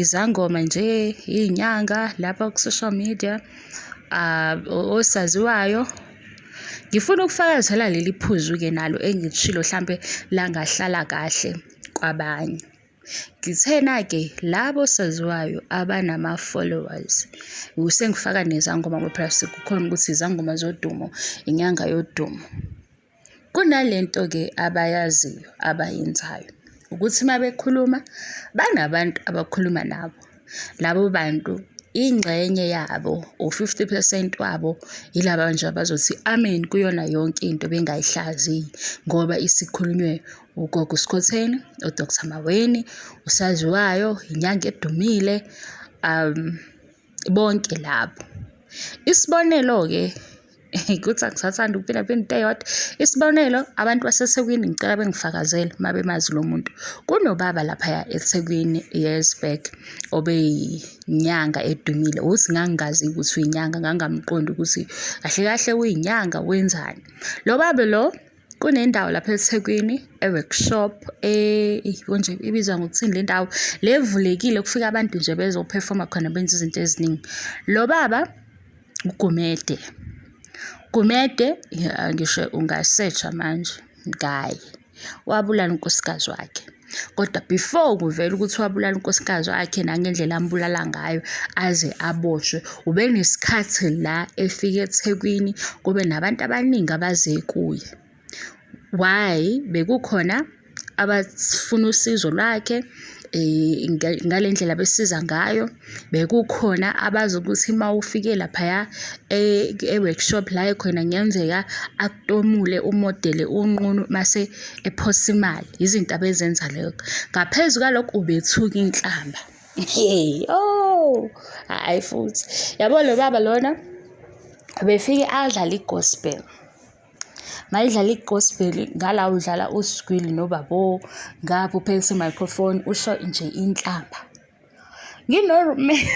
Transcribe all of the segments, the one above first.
izangoma nje iy'nyanga lapha ku-social media osaziwayo ngifuna ukufakazela leli phuzu-ke nalo engilishilo hlampe langahlala kahle kwabanye ngithena-ke labo saziwayo abanama-followers sengifaka nezangoma ngoba phela sekukhona ukuthi izangoma zodumo inyanga yodumo Kunalento-ke abayaziyo abayenzayo ukuthi uma bekhuluma banabantu abakhuluma nabo. Labo bantu ingxenye yabo u-50 percent wabo yilaba nje abazothi amen kuyona yonke into bengayihlaziyi ngoba isikhulunywe ugogo uskhotheni udr maweni usaziwayo inyanga edumile um bonke labo isibonelo-ke ukuthi angisathanda ukuphila phela into eyodwa isibonelo abantu basethekwini ngicela bengifakazele uma bemazi lo muntu kunobaba laphaya ethekwini years back obeyinyanga edumile uthi ngangingazi ukuthi uyinyanga ngangamqondi ukuthi kahle kahle uyinyanga wenzani lo baba lo kunendawo lapha eThekwini e-workshop konje ibizwa ngokuthini le ndawo le evulekile kufika abantu nje bezophefoma khona benza izinto eziningi lo baba uGumede Gumede ngisho ungasetsha manje ngaye wabulala unkosikazi wakhe kodwa before kuvela ukuthi wabulala unkosikazi wakhe nangendlela ambulala ngayo aze aboshwe ubenesikhathi la efike ethekwini kube nabantu abaningi abaze kuye why bekukhona abafuna usizo lwakhe um ngale ndlela besiza ngayo bekukhona abazi ukuthi uma ufike laphaya e-, e-workshop la ekhona kungenzeka akutomule umodele unqunu mase ephosa imali yizinto abezenza leyo ngaphezu kwalokho ubethuka inhlamba hey oh hayi futhi yabo lo baba lona ubefike adlala i-gospel mayidlala i-gospel ngala udlala usigwili nobabo ngapha uphekisa i-microphone usho nje inhlamba Ngino-roommate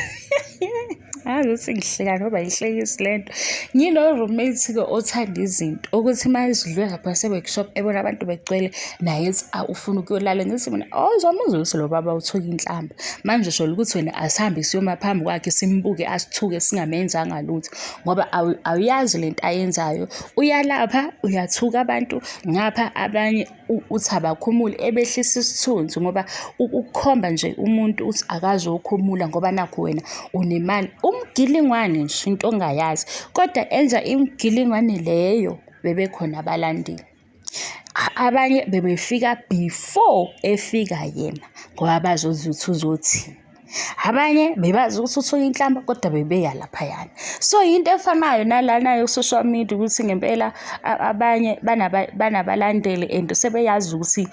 angazi ukuthi ngihleka ngoba yihlekisi le nto. Ngino-roommate-ke othanda izinto ukuthi uma esidlule lapha se-workshop ebona abantu begcwele naye ethi awu ufuna ukuyolala. Ngithi mina oh uzomuzwa ukuthi lo baba uthuka inhlamba. Manje shola ukuthi wena asihambe siyoma phambi kwakhe simbuke asithuke singamenzanga lutho ngoba awuyazi le nto ayenzayo. Uyalapha uyathuka abantu ngapha abanye. uthi abakhumule ebehlisa isithunzi ngoba ukukhomba nje umuntu uthi akazi ukhumula ngoba nakho wena unemali umgilingwane nje into ongayazi kodwa enza imgilingwane leyo bebekhona abalandeli abanye bebefika before efika yena ngoba bazozuthi uzothini abanye bebazi ukuthi uthola inhlamba kodwa bebeya laphayana so yinto efanayo nalana yo-social media ukuthi ngempela abanye banabalandeli and sebeyazi ukuthi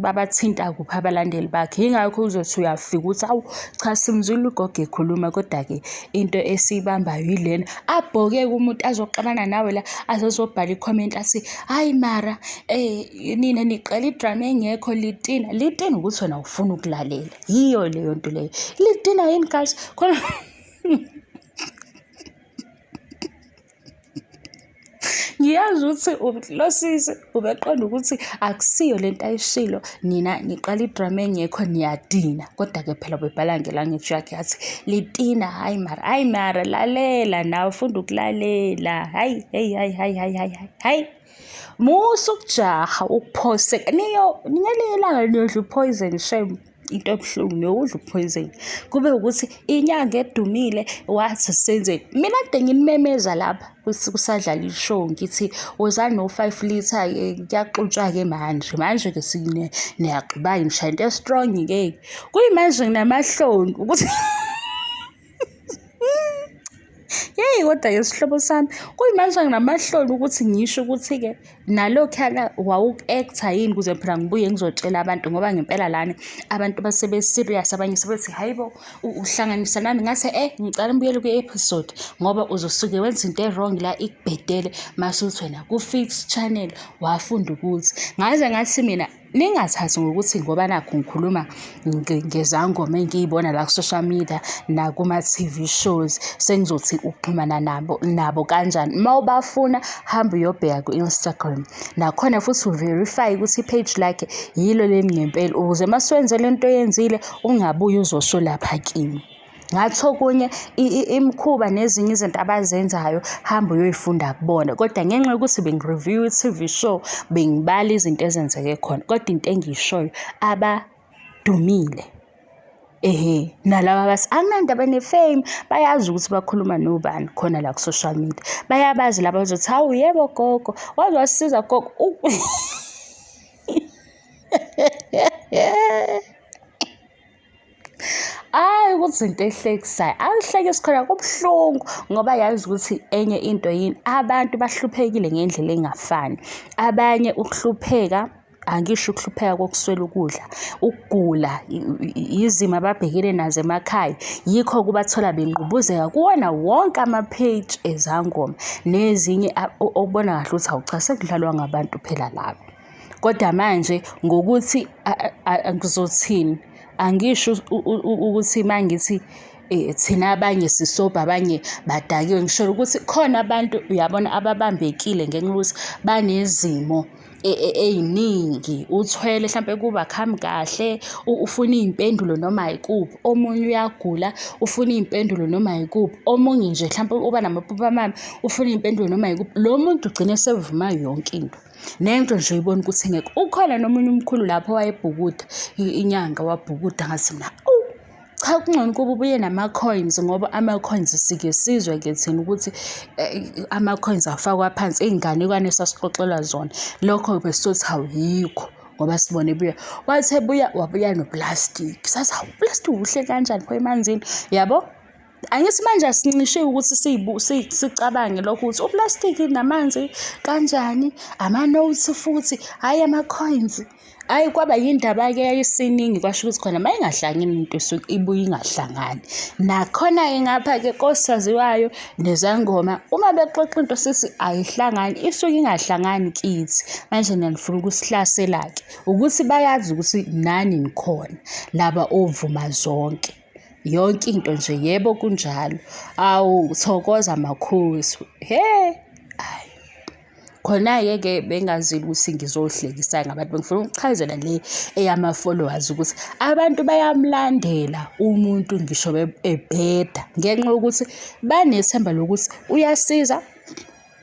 babathinta kuphi abalandeli bakhe yingakho uzothi uyafika ukuthi awu cha simzwile ugogo ekhuluma kodwa-ke into esiyibambayo yilena abhoke kumuntu azoxabana nawe la azozobhala ikhomenti athi hhayi mara um nina niqala idrama engekho litina litina ukuthi wena ufuna ukulalela yiyo leyo nto leyo lidina yini guys khona ngiyazi ukuthi lo sisi ubeqonda ukuthi akusiyo le nto ayishilo nina niqala idrama engekho niyadina kodwa-ke phela ubebhala ngelanguage yakhe yathi litina hhayi mara hhayi mara lalela nawe funda ukulalela hhayi hheyi hhayi hhayi hhayi hhayi hhayi Musa ukujaha ukuphoseka niyo ngelinye ilanga niyodla uphoyizeni shem into ebuhlungu niyokudla uphoyizeni kube ukuthi inyanga edumile wathi senzeni mina kade nginimemeza lapha kusadlala ishow ngithi wozani no-five litre eh, kuyaxutshwa-ke manje manje-ke niyagqiba yini shayinto estrong-ke kuyimanje nginamahloni ukuthi yeyi kodwa-ke sihlobo sami kuyimanje nginamahloni ukuthi ngisho ukuthi-ke nalokhuyana wawuku-ektha yini ukuze phela ngibuye ngizotshela abantu ngoba ngempela lana abantu basebe-serious abanye sebethi hhayi bo uhlanganisa nami ngase e ngicala mbuyele kwi-episode ngoba uzosuke wenza into e-wrong la ikubhedele mase uthi wena ku-fix channel wafunda ukuthi ngaze ngathi mina ningathathi ngokuthi ngoba nakho ngikhuluma ngezangoma engiyibona la ku-social media nakuma-TV shows sengizothi ukuxhumana nabo nabo kanjani uma ubafuna hamba uyobheka ku-Instagram nakhona futhi uverify ukuthi i-page lakhe yilo leli ngempela ukuze uma siwenze le nto oyenzile ungabuye uzosho lapha kimi. Ngathi okunye imikhuba nezinye izinto abazenzayo hamba uyoyifunda kubona kodwa ngenxa yokuthi bengi-review i-T_V show bengibala izinto ezenzeke khona kodwa into engiyishoyo abadumile ehe nalaba abathi anginandaba ne-fame bayazi ukuthi bakhuluma nobani khona la ku-social media bayabazi laba bazothi hawu yebo gogo waze wasisiza gogo Hhayi ukuthi izinto ehlekisayo, angihleki sikhona kubuhlungu ngoba yazi ukuthi enye into yini, abantu bahluphekile ngendlela engafani. Abanye ukuhlupheka angisho ukuhlupheka kokuswela ukudla, ukugula, izimo ababhekene nazo emakhaya, yikho kubathola bengqubuzeka kuwona wonke ama-page ezangoma nezinye okubona kahle ukuthi awu cha sekudlalwa ngabantu phela laba. Kodwa manje ngokuthi ngizothini, angisho ukuthi uma ngithi eh, thina abanye sisobha abanye badakiwe, ngisho ukuthi khona abantu uyabona ababambekile ngenxa yokuthi banezimo e, e, ey'ningi. Uthwele hlampe kubakhambi kahle, ufuna iy'mpendulo noma yikuphi, omunye uyagula ufuna iy'mpendulo noma yikuphi, omunye nje hlampe uba namaphupho amabi ufuna iy'mpendulo noma yikuphi. Lo muntu ugcine esevuma yonke into. nento nje uyibona ukuthi ngeke ukhona nomunye umkhulu lapho wayebhukuda inyanga wabhukuda ngathi na cha kungcono ukuba ubuye nama-coins ngoba ama-coins sike sizwe ke thina ukuthi eh, ama-coins afakwa phansi iy'nganekwane esasixoxelwa zona lokho besizothi awuyikho ngoba sibone buya wathe buya wabuya noplastic sathi hawu uplastic uhle kanjani pho emanzini yabo angithi manje asincishile ukuthi sicabange lokho ukuthi uplastiki namanzi kanjani ama-notes futhi hhayi ama-coins hhayi kwaba yindaba-ke yayisiningi kwasho ukuthi khona uma ingahlangani into esuke ibuye ingahlangani nakhona-ke ngapha-ke kosaziwayo nezangoma uma bexoxa into sithi ayihlangani isuke ingahlangani kithi manje nanifuna ukusihlasela-ke ukuthi bayazi ukuthi nani nikhona laba ovuma zonke yonke into nje yebo kunjalo awu thokoza makhosi he ayi khona-ke ke bengazile ukuthi ngizohlekisa ngabantu bengifuna ukuchazela le eyama-followers ukuthi abantu bayamlandela umuntu ngisho ebheda ngenxa yokuthi banethemba lokuthi uyasiza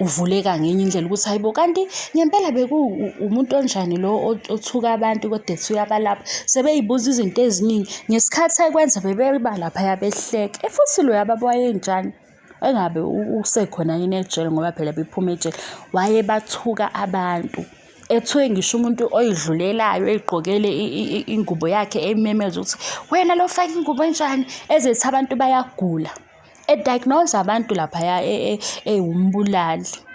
uvuleka ngenye indlela ukuthi hayi bo kanti ngempela bekuwumuntu onjani lo othuka abantu kodwa ethuka abalapha sebeyibuza izinto eziningi ngesikhathi ekwenza bebeba laphaya behleke efuthi loyo ababa wayenjani engabe usekhona yini ejele ngoba phela bephuma ejele wayebathuka abantu ethiwe ngisho umuntu oyidlulelayo eyigqokele ingubo yakhe ememeza ukuthi wena lo fake ingubo enjani ezethi abantu bayagula ediagnose abantu laphaya ewumbulali e, e,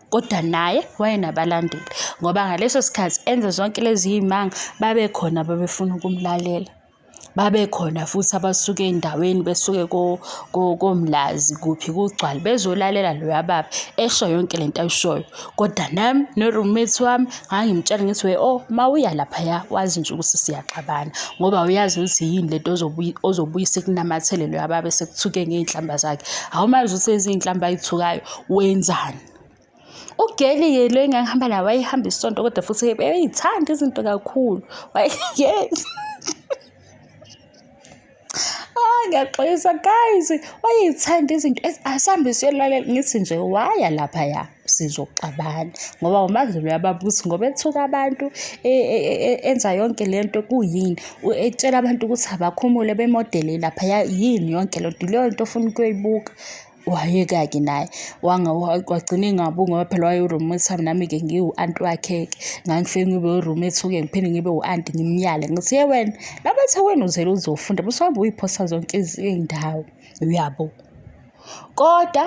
kodwa naye wayenabalandeli ngoba ngaleso sikhathi enze zonke lezi y'manga babekhona babefuna ukumlalela babekhona futhi abasuke endaweni besuke komlazi kuphi kugcwale bezolalela loya baba esho yonke le nto ayishoyo kodwa nami no-roommate wami ngangimtshela ngithi we o oh, uma uya laphaya wazi nje ukuthi siyaxabana ngoba uyazi ukuthi yini lento ozobuye sekunamathele loyo ababe sekuthuke ngey'nhlamba zakhe awumazi ukuthi eziy'nhlamba ayithukayo wenzani ugeli-ke lo engangihamba naye wayehamba isonto kodwa futhi eyithanda izinto kakhulu wayeyeza Ah ngiyaxolisa guys wayeyithanda izinto asambe siyolalela ngithi nje waya lapha ya sizoxabana ngoba uMandlovu uyababuza ngoba ethuka abantu e, e, e, enza yonke le nto kuyini etshela abantu ukuthi abakhumule bemodele laphaya yini yonke le nto leyo nto ofuna ukuyoyibuka. wayeka-ke naye wagcina engabungi ngoba phela waye-roommate wami nami-ke ngiwu-anti wakhe-ke ngangifike ngibe u-roommate uke ngiphinde ngibe u-anti ngimyale ngithi ye wena laba the wena uzele uzofunda bese uhambe uyiphosa zonke izindawo uyabo kodwa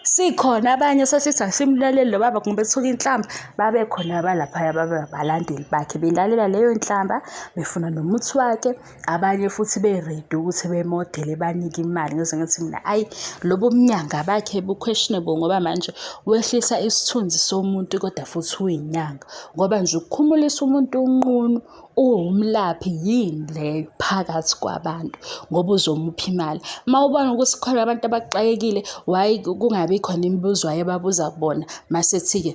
sikhona abanye sesithi asimlaleli lo baba ngoba ethuka inhlamba babe khona abalaphaya babe abalandeli bakhe belalela leyo nhlamba befuna nomuthi wakhe abanye futhi be-ready ukuthi bemodele banike imali ngizwe ngithi mina ayi lobo bunyanga bakhe bu-questionable ngoba manje wehlisa isithunzi somuntu kodwa futhi uyinyanga ngoba nje ukukhumulisa umuntu unqunu uwumlaphi yini leyo phakathi kwabantu ngoba uzomupha imali uma ubona ukuthi khona abantu abaxakekile waye kungabi khona imibuzo wayebabuza kubona masethi-ke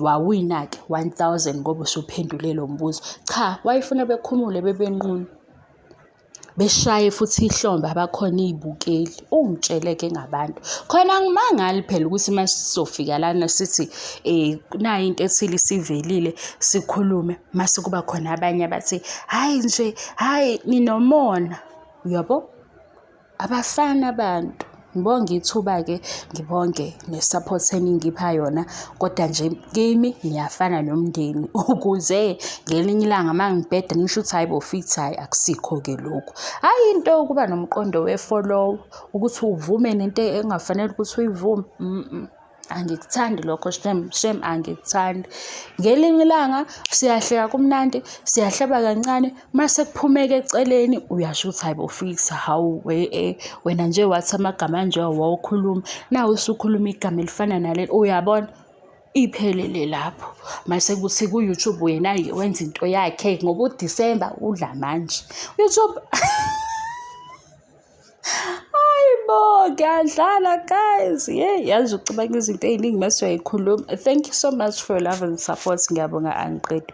wawina-ke 1000 ngoba usuphendule lo mbuzo cha wayefuna bekhumule bebenqunu beshaye futhi ihlombe abakhona iy'bukeli ungitshele-ke ngabantu khona ngimangali phela ukuthi uma sizofika lana sithi um nayo into ethile isivelile sikhulume mase kuba khona abanye abathi hhayi nje hhayi ninomona uyabo Abafana abantu ngibonge ithuba-ke ngibonge ne-support eningipha yona kodwa nje kimi ngiyafana nomndeni ukuze ngelinye ilanga uma ngibheda nisho ukuthi hhayi bo fithi hhayi akusikho-ke lokhu hhayi into yokuba nomqondo we-follow ukuthi uvume nento engafanele ukuthi uyivume angikuthandi lokho shem shem angikuthandi ngelinye ilanga siyahleka kumnandi siyahleba kancane mase kuphumeka eceleni uyasho ukuthi hayibo fix hawu we eh, wena nje wathi amagama anje wawukhuluma nawe usukhuluma igama elifana naleli uyabona iphelele lapho mase kuthi ku-youtube wena wenza into yakhe ngoba udisemba udla manje youtube hayi bo ngiyadlala guys ye yazi ucabanga izinto ey'ningi mase uyayikhuluma thank you so much for your love and support ngiyabonga angiqedi